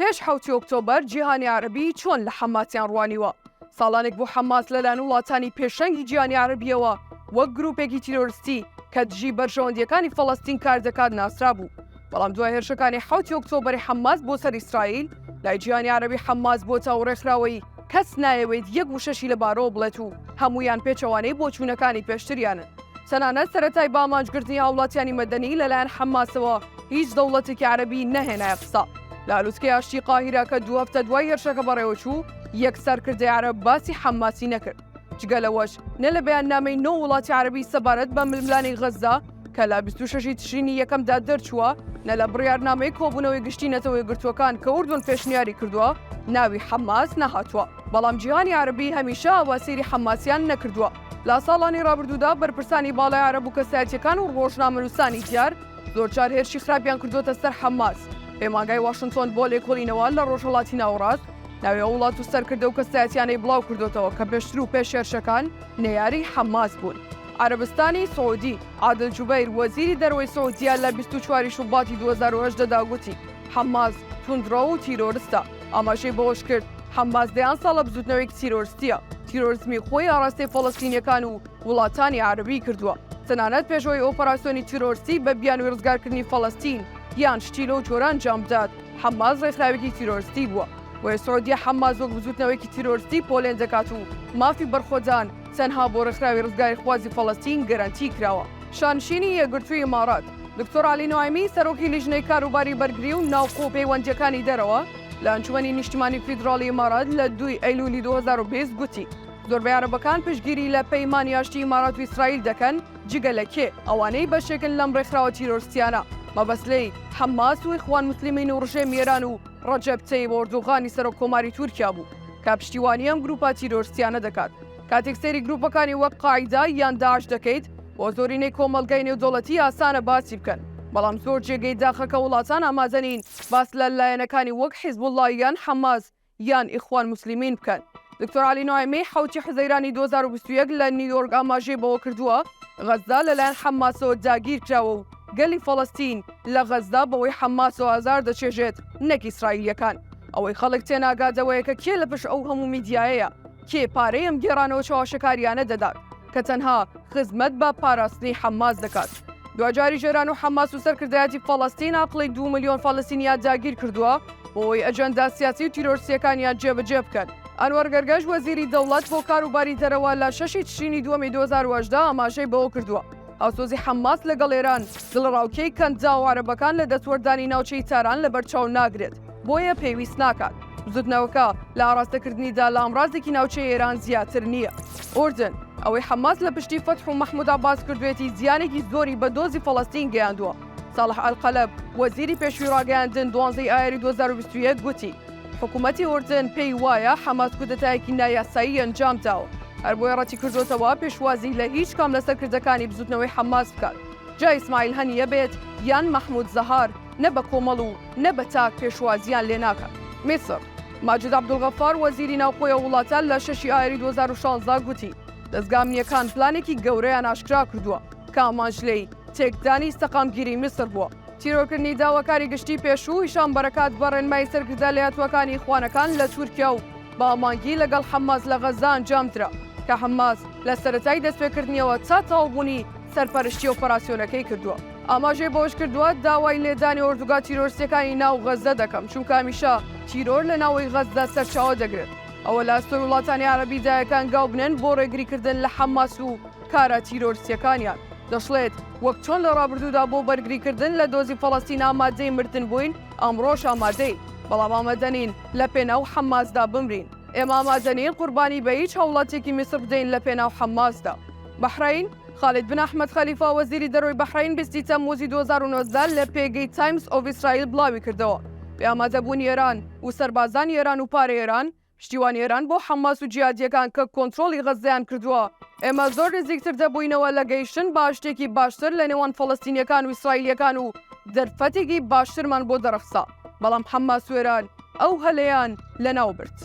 پێش حەوتی ئۆکتۆبەر جیهانی عەرەبی چۆن لە حەماسیان ڕوانیوە؟ ساڵانێک بوو حەماس لەلایەن وڵاتانی پێشەنگی جیهانی عەرەبییەوە وەک گرووپێکی تیرۆرستی کە دژی بەرژەوەندییەکانی فەڵەستین کار دەکات ناسرابوو. بەڵام دوای هێرشەکانی حوتی ئۆکتۆبەری حەماس بۆ سەر ئیسرائیل لای جیهانی عەرەبی حەماس بۆ چاو ڕێکخراوەیی کەس نایەوێت یەک وشەشی لە بارەوە بڵێت و هەموویان پێچەوانەی بۆچوونەکانی پێشتریانن تەنانەت سەرەتای بە ئامانجگرتنی هاوڵاتیانی مەدەنی لەلایەن حەماسەوە هیچ دەوڵەتێکی عەرەبی نەهێنایە قسە لە ئالوتکەی ئاشتی قاهیرە کە دوو هەفتە دوای هێرشەکە بەڕێوەچوو یەک سەرکردەی عەرەب باسی حەماسی نەکرد. جگە لەوەش نە لە بەیاننامەی نۆ وڵاتی عەرەبی سەبارەت بە ململانێی غەززە کە لە 26 ی تشرینی یەکەمدا دەرچووە نە لە بڕیارنامەی کۆبوونەوەی گشتی نەتەوە یەکگرتووەکان کە ئوردن پێشنیاری کردووە ناوی حەماس نەهاتووە بەڵام جیهانی عەرەبی هەمیشە ئاوا سەیری حەماسیان نەکردووە لە ساڵانی ڕابردوودا بەرپرسانی باڵای عەرەب و کەسایەتیەکان و ڕۆژنامەنووسانی دیار زۆرجار هێرشی خراپیان کردووەتە سەر حەماس پەیمانگای واشنتۆن بۆ لێکۆڵینەوە لە ڕۆژهەڵاتی ناوەڕاست ناوی ئەو وڵات و سەرکردە و کەسایەتیانەی بڵاو کردوتەوە کە پێشتر و پێش هێرشەکان نەیاری حەماس بوون. عربستانی سعودی عادل جوبیر وەزیری دەرەوەی سعودیا لە 24 شوباتی 2010 دا گوتی حەماس توندڕەو و تیرۆرستە ئاماژەی بەوەش کرد حەماس دەیان ساڵە بزوتنەوەیەک تیرۆرستیە تیرۆرزمی خۆی ئاراستەی فەڵەستینیەکان و وڵاتانی عربی کردووە تەنانەت پێشەوەی ئۆپەراسسیۆنی تیرۆرسی بە بیانوی ڕزگارکردنی فەڵەستین یان شتی لەو جۆران جام بدات حەماس ڕێکخراوێکی تیرۆرستی بووە، بۆیە سعودیە حەماس وەک بزووتنەوەیەکی تیرۆرستی پۆلێن دەکات و مافی بەرخۆدان تەنها بۆ ڕێکخراوی ڕزگاریخوازی فەڵەستین گەرەنتی کراوە. شانشینی یەکگرتووی ئیمارات، دکتۆر عەلی نوعەیمی، سەرۆکی لیژنەی کاروباری بەرگری و ناوخۆ و پەیوەندییەکانی دەرەوە لە ئەنجومەنی نیشتیمانی فیدراڵی ئیمارات لە دووی ئەیلوولی دوو هەزار و بیست گوتی، زۆربەی عەرەبەکان پشتگیری لە پەیمانی ئاشتی ئیمارات و ئیسرائیل دەکەن، جگە لە کێ؟ ئەوانەی بەشێکن لەم ڕێکخراوە تیرۆرستیانە، مەبەست لێی، حەماس و ئیخوان موسلیمین و ڕژێمی ئێران و ڕەجەب تەیب ئۆردوغانی سەرۆک کۆماری تورکیا بوو، کە پشتیوانی ئەم گرووپە تیرۆرستیانە دەکات. کاتێک سەیری گرووپەکانی وەک قاعیدە یان داعش دەکەیت، بۆ زۆرینەی کۆمەڵگای نێودەوڵەتی ئاسانە باسی بکەن، بەڵام زۆر جێگەی داخە کە وڵاتان ئامادە نین باس لە لایەنەکانی وەک حیزبوڵڵا یان حەماس یان ئیخوان موسلیمین بکەن. دکتۆر عەلی نوعەیمی حەوتی حوزەیرانی دوو هەزار و بیست و یەک لە نیویۆرک ئاماژەی بەوە کردووە، غەززە لەلایەن حەمماسەوە داگیر کراوە و گەلی فەڵەستین لە غەززە بەوەی حەمماسەوە ئازار دەچێژێت نەک ئیسرائیلییەکان. ئەوەی خەڵک تێناگات ئەوەیە کە کێ لە پشت ئەو هەموو میدیایەیە، کێ پارەی ئەم گێڕانەوە چەواشەکارییانە دەدات. کە تەنها خزمەت بە پاراستنی حەماس دەکات. دواجاریش ئێران و حەماس و سەرکردایەتی فەڵەستین ئاقڵی دوو ملیۆن فەڵەستینیان داگیر کردووە بۆی ئەجەندا سیاسی و تیرۆرسییەکانیان جێبەجێ بکەن. ئەنوەر گەرگەش وەزیری دەوڵەت بۆ کاروباری دەرەوە لە شەش ی تشرینی دووەمی دوو هەزار و هەژدە ئاماژەی بەوە کردووە، هاوسۆزی حەماس لەگەڵ ئێران دڵەڕاوکێی کەنداوە عەرەبەکان لە دەستوەردانی ناوچەی تاران لەبەرچاو ناگرێت. بۆیە پێویست ناکات. بزوتنەوەکە لە ئاراستەکردنیدا لە ئامرازێکی ناوچەی ئێران زیاتر نییە. ئوردن، ئەوەی حەماس لە پشتی فەتح و مەحمود عەباس کردوێتی زیانێکی زۆری بە دۆزی فەڵەستین گەیاندووە. ساڵح ئەلقەلەب، وەزیری پێشووی ڕاگەیاندن دوازدە ی ئایاری دوو هەزار و بیست و یەک گوتی، حکومەتی ئوردن پێی وایە حەماس کودەتایەکی نایاسایی ئەنجام داوە، هەر بۆیە ڕەتیکردۆتەوە پێشوازی لە هیچ کام لە سەرکردەکانی بزوتنەوەی حەماس بکات، جا ئیسماعیل هەنیە بێت یان مەحمود زەهار، نە بە کۆمەڵ و نە بە تاک پێشوازییان لێ ناکات. میسڕ، ماجد عەبدولغەفار، وەزیری ناوخۆی ئەو وڵاتە لە شەشی ئایاری دوو هەزار و شازدە گوتی، دەزگا ئەمنییەکان پلانێکی گەورەیان ئاشکرا کردووە کە ئامانج لێی تێکدانی سەقامگیری میسڕ بووە. تیرۆرکردنی داواکاری گشتیی پێشوو هیشام بەرەکات بە ڕێنمایی سەرکردە لەیەتووەکانی ئیخوانەکان لە تورکیا و بە هەماهەنگی لەگەڵ حەماس لە غەززە ئەنجام درا کە حەماس لە سەرەتای دەستپێکردنیەوە تا تەواوبوونی سەرپەرشتی ئۆپەراسیۆنەکەی کردووە. ئاماژەی بەوەشکردووە، داوای لێدانی ئۆردوگا تیرۆرستیەکانی ناو غەززە دەکەم، چونکە هەمیشە تیرۆر لە ناوەی غەززە سەرچاوە دەگرێت، ئەوە لە ئەستۆی وڵاتانی عەرەبی دایە کە هەنگاو بنێن بۆ ڕێگریکردن لە حەماس و کارە تیرۆرستیەکانیان. دەشڵێت، وەک چۆن لە ڕابردوودا بۆ بەرگریکردن لە دۆزی فەڵەستین ئامادەی مردن بووین، ئەمڕۆش ئامادەین، بەڵام ئامادەنین لە پێناو حەماسدا بمرین. ئێمە ئامادەنین قوربانی بە هیچ هاوڵاتیەکی میسر بدەین لە پێناو حەماسدا. بەحرەین. خالید بن ئەحمەد خەلیفا وەزیری دەرۆی بەحرەین بیستی تەمموزی دوو هەزار و نۆزدە لە پێگەی تایمز ئۆف ئیسرائیل بڵاوی کردەوە، بێ ئامادەبوونی ئێران و سەربازانی ئێران و پارەی ئێران، پشتیوانی ئێران بۆ حەماس و جیهادییەکان کە کۆنترۆڵی غەززەیان کردووە، ئێمە زۆر نزیکتر دەبووینەوە لە گەیشتن بە ئاشتێکی باشتر لە نێوان فەڵەستینییەکان و ئیسرائیلییەکان و دەرفەتێکی باشترمان بۆ دەڕەخسا، بەڵام حەماس و ئێران ئەو هەلەیان لەناو برد.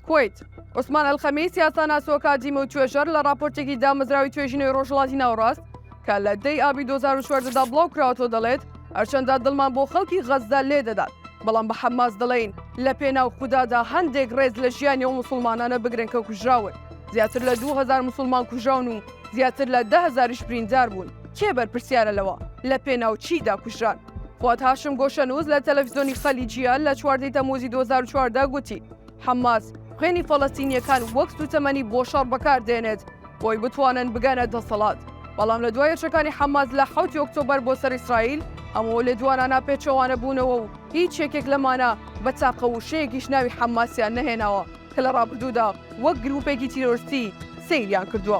کوەیت، عوسمان ئەلخەمیس، یاساناس و ئەکادیمی و توێژەر، لە ڕاپۆرتێکی دامەزراوەی توێژینەوەی ڕۆژهەڵاتی ناوەڕاست کە لە دەی ئابی دوو هەزار و چواردە دا بڵاوکراوەتەوە دەڵێت، هەرچەندە دڵمان بۆ خەڵکی غەززە لێدەدات، بەڵام بە حەماس دەڵێین لەپێناو خودادا هەندێک ڕێز لە ژیانی ئەو موسڵمانانە بگرن کە کوژراون، زیاتر لە دوو هەزار موسڵمان کوژراون و زیاتر لە دە هەزاریش برینداربوون، کێ بەرپرسیارە لەوە؟ لەپێناو چیدا کوژران؟ فواد هاشم گۆشەنووس لە تەلەفزیۆنی خەلیجییە لە چواردەی تەمووزی دوو هەزار و چواردە گوتی، حەماس خوێنی فەڵەستینییەکان وەک سووتەمەنی بۆ شەڕ بەکار دێنێت بۆی بتوانن بگەنە دەسەڵات، بەڵام لە دوای هێرشەکانی حەماس لە حەوتی ئۆکتۆبەر بۆ سەر ئیسرائیل، ئەم ئەو لێدوانانە پێچەوانە بوونەوە و هیچ یەکێک لەمانە بە تاقە وشەیەکیش ناوی حەماسیان نەهێناوە کە لە ڕابردوودا وەک گرووپێکی تیرۆرستی سەیریان کردووە.